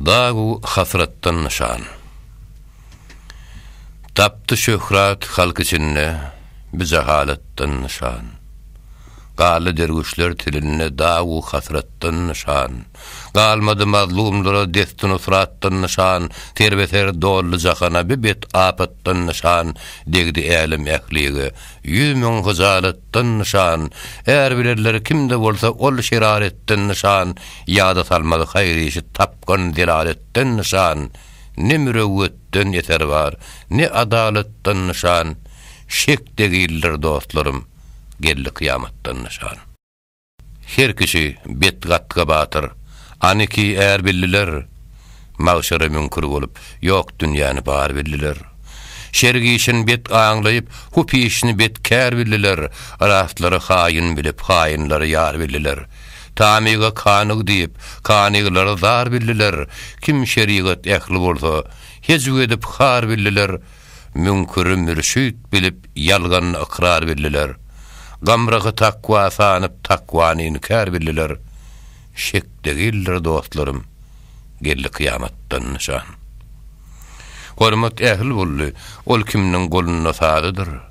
Dagu hasratdan nyşan. Tapdy şöhrat halk içinde, bi jahalatdan nyşan. Galdy derwüşler tilinde dagu hasratdan nyşan. Galmady mazlumlara desti-nusratdan nyşan, serbeser doldy jahana bi bet-apatdan nyşan, degdi älem ählige ýüz müň hyjalat, Şeraretden nyşan, är bilenler kimde bolsa ol şeraretden nyşan ýada salmaly haýyr işi tapgan zelaletden nyşan ne mürewwetden eser bar ne adalatdan nyşan şek degildir dostlarym geldi kyýamatdan nyşan. Her kişi betgatga batyr. Aniki är bildiler. Magşara müňkür bolup, ýok dünýäni bar bildiler. Şer gişin bet aňlaýyp, hup işini bet kär bildiler. Rastlary haýyn bilip, haýynlary ýar bildiler. Tamyga kanyg diýip, kanygylary zar bildiler. Kim şerigat ähli bolsa, hejw edip har bildiler. Müňküri mürşüt bilip ýalganyny ykrar bildiler. Gamragy takwa sanyp takwany inkär bildiler. Şek degildir dostlarym, geldi kyýamatdan nyşan. Hormat ähli boldy, ol kimniň golunda sazydyr.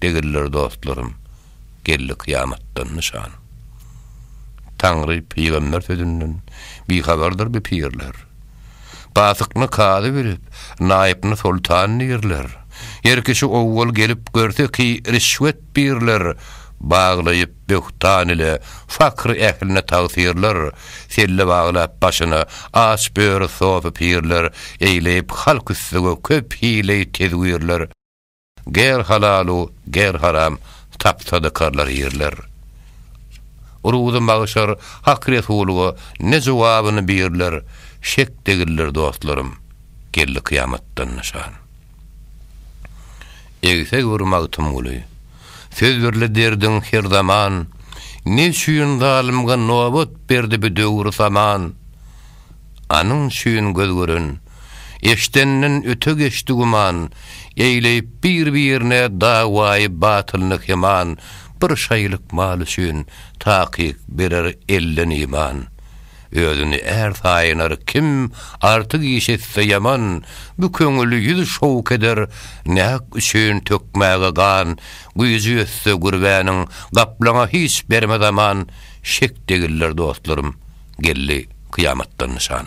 Degiller dostlarym, geldi kyýamatdan nyşan. Taňry, pygamber sözünden, bihabardyr bi pirler. Pasykny kazy bilip, naýypny soltan dirler. Her kişi owwal gelip görse ki rişwet birler, baglaýyp böhtan ile fakr ähline tagsirler, selle baglap başyna aç böri sofi pirler, eýleýip halk üstüge köp hileý tedwirler. Ger halalu ger haram tapsa dykarlar ýerler. Ruzy magşar Hak Resulyga ne jogabyny birler şek degildir dostlarym geldi kyýamatdan nyşan. Egseg bir Magtymguly söz birli derdiň her zaman ne üçin zalymga nobat berdi bi döwür saman anyň üçin göz gören Eşdenden öte geçdi güman, Eýleýip bir-birine dawaýy batylyny keman, Bir şaýylyk mal üçin, takyk berer elden iman. Özüni är saýynar kim, artyk iş etse ýaman, Bu köňül ýüz şowk eder, nähak üçin tökmäge gan, Güýji ýetse gürbäniň, gaplaňa hiç bermez aman, Şek degiller dostlarym. Geldi kyýamatdan nyşan.